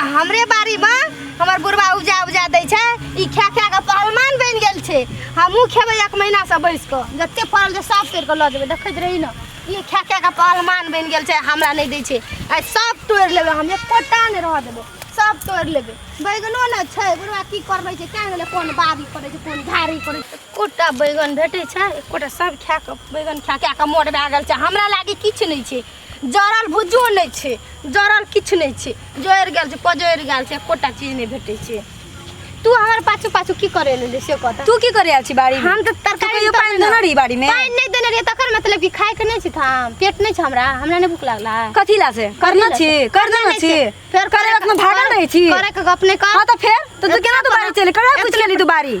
आ हमरे बाड़ी में हमर बुढ़वा उपजा उपजा दै छै ई खा खा के पहलमान बन गेल छै हमहूँ खेबै एक महीना से बैस कऽ जते फड़ल छै सब तोड़ कऽ लऽ जेबै देखैत रही ने ई खा खा के पहलमान बन गेल छै हमरा नहि दै छै आ सब तोड़ लेबै हम एकोटा नहि रह देबै सब तोड़ लेबै बैगनो ने छै बुढ़वा की करबै छै क्या गेलै कोन बाड़ी करै छै कोन झाड़ी करै छै एकोटा बैगन भेटै छै एकोटा सब खा कऽ बैगन खा खा कऽ मोट भए गेल छै हमरा लागे किछु नहि छै जरल भुजो नहि छै जरल किछु नहि छै जरि गेल छै पजरि गेल छै एकोटा चीज नहि भेटै छै तू हमर पाछू पाछू की करे ले से कहता तू की करे आयल छी बाड़ी हम तऽ तरकारी तू पानि देने रही बाड़ी में पानि नहि देने रहियै तकर मतलब कि खाय के नहि छै थाम पेट नहि छै हमरा हमरा नहि भूख लागला कथी ला से करना छी करना ना छी फेर करे वक्त में भागल रहे छी करे के गप नहीं कर हां तो फिर तो तू केना दुबारी चले करे कुछ केली दुबारी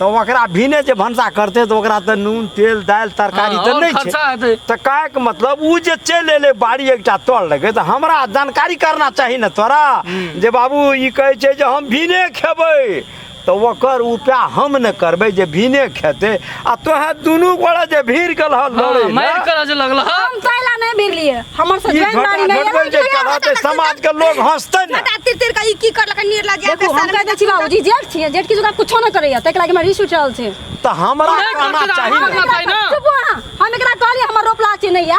तऽ ओकरा भिने जे भनसा करतै तऽ ओकरा तऽ नून तेल दालि तरकारी तऽ नहि छै तऽ कहैके मतलब ओ जे चलि एलै बाड़ी एकटा तोड़ लगे तऽ हमरा जानकारी करना चाही ने तोरा जे बाबू ई कहै छै जे हम भिने खेबै तऽ ओकर उपाय हम ने करबै जे भिने खेतै आ तोहे दुनू गोड़ा जे भीड़ गेल हल लड़े हाँ, मार कर आज लगल हा हम तैला नहीं भिर लिए हमर से ई जैन बारी झगड़ा में झगड़ल जे कला ते समाज के लोग हंसते ने बेटा तिर तिर का ई की करलक नीर लग जाए देखू हम कह दै छी बाबूजी जेठ छियै जेठ किछु का कुछो न करैया तैके लागि हमरा रिस उठि रहल छै त हमरा नहीं कहना करते चाहिए रहल। ना। हम एकरा कहली ना। चुप अहाँ। हम एकरा कहली हमर रोपला छै नैया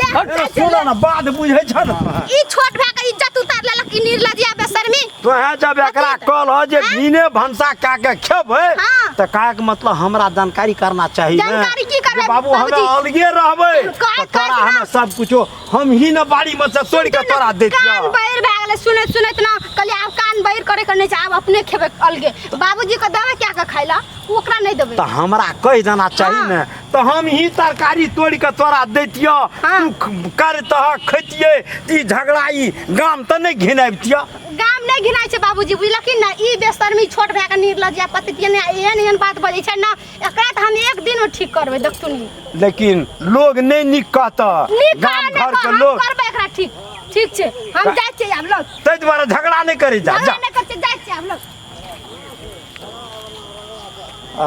ले, हट, ले, सुन ले। ना बात बुझै छ न ई छोट भए के इज्जत उतार लेलक ई निर्लजिया बेशर्मी तोहे जब एकरा कल हो जे भीने भंसा का के खेबै हाँ। त का के मतलब हमरा जानकारी करना चाहिए ने। जानकारी की करबै, जे बाबू हम बाबूजी? अलगे रहबै का- त तोरा का- हम सब कुछो हम ही न बाड़ी में से तोड़ के तोरा दे कान बैर भए गेलै सुनैत सुनैत ना कहलियै आब कान बैर करे के नहि छै आब अपने खेबै अलगे बाबूजी के देबै क्या के खाइला ओकरा नहि देबै त हमरा कहि देना चाहिए हाँ। ने तऽ हम ही तरकारी तोड़ि कऽ तोरा दैतियो हाँ। तू ख- करतह खैतियै ई झगड़ा ई गाम तऽ नहि घिनाबितियो गाम नहि घिनाइ छै बाबूजी बुझलखिन ने ई बेशर्मी छोट भए कऽ निर्लज या पतितिए ने एहन एहन बात बजै छै ने एकरा तऽ हम एक दिन ठीक करबै देखथुन लेकिन लोग नहि नीक कहतह नीक गाम गाम घर के हम लोग करबै एकरा ठीक ठीक छै हम गा- जाइ छियै आब लोग ताहि दुआरे झगड़ा नहि करै जा झगड़ा जा नहि करते जाइ छियै आब लोग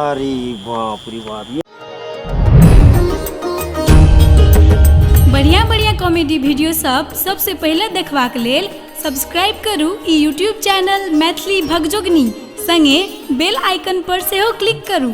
अरे बाप रे बाप ये बढ़िया बढ़िया कॉमेडी वीडियो सब सबसे पहिले देखबाक लेल सब्सक्राइब करू ई यूट्यूब चैनल मैथिली भगजोगनी संगे बेल आइकन पर सेहो क्लिक करू